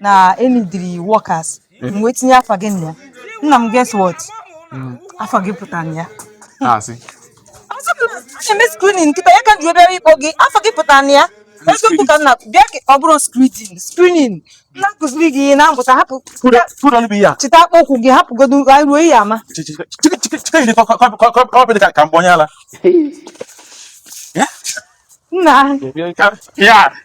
na e needịrị workers m wee tinye afa gị na ya nna m guess what hmm. afa gị pụtara na ya a sị na-eme screening kịta ya ka ji obere ịkpọ gị afa gị pụtara na ya eziokwu ka nna bịa ka ọ bụrụ screening na-akụziri gị ihe na-amụta hapụ chịta akpọ ụkwụ gị hapụgodo anyị ruo ihe ama ka m gbanye ala nna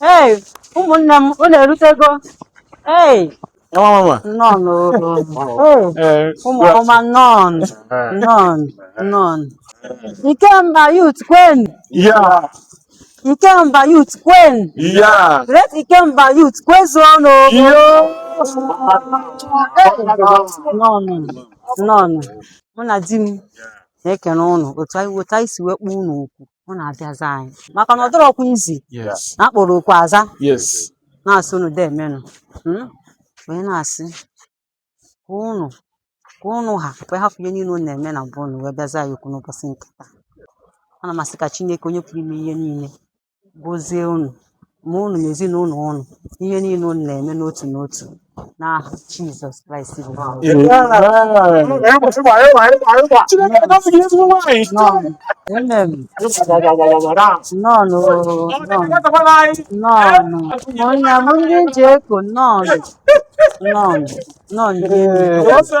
Hey, ụmụnne m, unu erutego? Hey, Nwa mama. nọọnụ o. Hey, Ee, ụmụ ọma nọọnụ, nọọnụ, nọọnụ. Ikemba youth kwen, Ya. Ikemba youth kwen. Ya. Great Ikemba youth kwezuonụ. Nọọnụ, nọọnụ. Mụ na di m na-ekene ụnụ otu anyị otu anyị si wee kpọọ ụnụ oku. unu abịa za anyị maka na ọ dịrọkwa easy Yes. na a kpọrọ oku a za Yes. na-asị unu deemenụ mm? wee na-asị ka unu ka unu ha wee hapụ ihe niile unu na-eme na mbụ unu wee bịa za anyị oku n'ụbọchị nke taa a na m asị ka chineke onye pụrụ ime ihe niile gozie unu ma unu na ezinụlọ unu ihe niile unu na-eme n'otu n'otu n'aha Jizọs Kraịst bụ onye nwe m. Chineke agọzi gị ezigbo nwaanyị. Nọọnụ. Amen. Nọọnụ. Nọọnụ. Nọọnụ. Onye bụ ndị ji eko nọọnụ. Nọọnụ. Nọọnụ. Ee, ọsọ.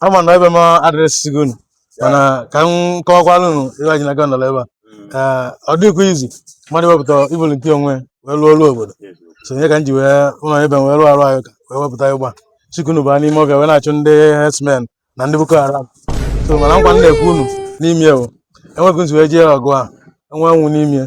ama na ebe m addressịgo unu mana ka m kọwakwara unu ebe anyị na-aga nọrọ ebe a Ee, ọ dịghịkwa easy mmadụ wepụta volunteer onwe ya wee lụọ ọrụ obodo so ya ka m ji wee ụlọ ebe m wee rụọ arụ anyị ka wee wepụta ịgba chikunu baa n'ime ọfịa wee na-achụ ndị herdsmen na ndị boko haram so mana nkwa m na-ekwe unu n'ime ya bụ enweghị nzu wee jee ọgụ a enwe nwụ n'ime ya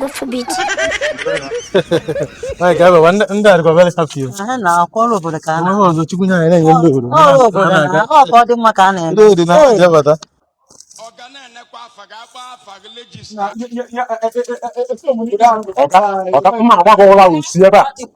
Gofu beach. Anyị ga-ebe wa ndị adịkwa very happy. Anyị na-arụ ọrụ obodo ka a na. Ọrụ ọzọ Chukwu nye anyị na-enye ndị obodo. Ọrụ obodo na ọ ka ọ dị mma ka a na-eme. Ndị obodo na-abịa bata. Ọka mma agbagọwala usi ebe a.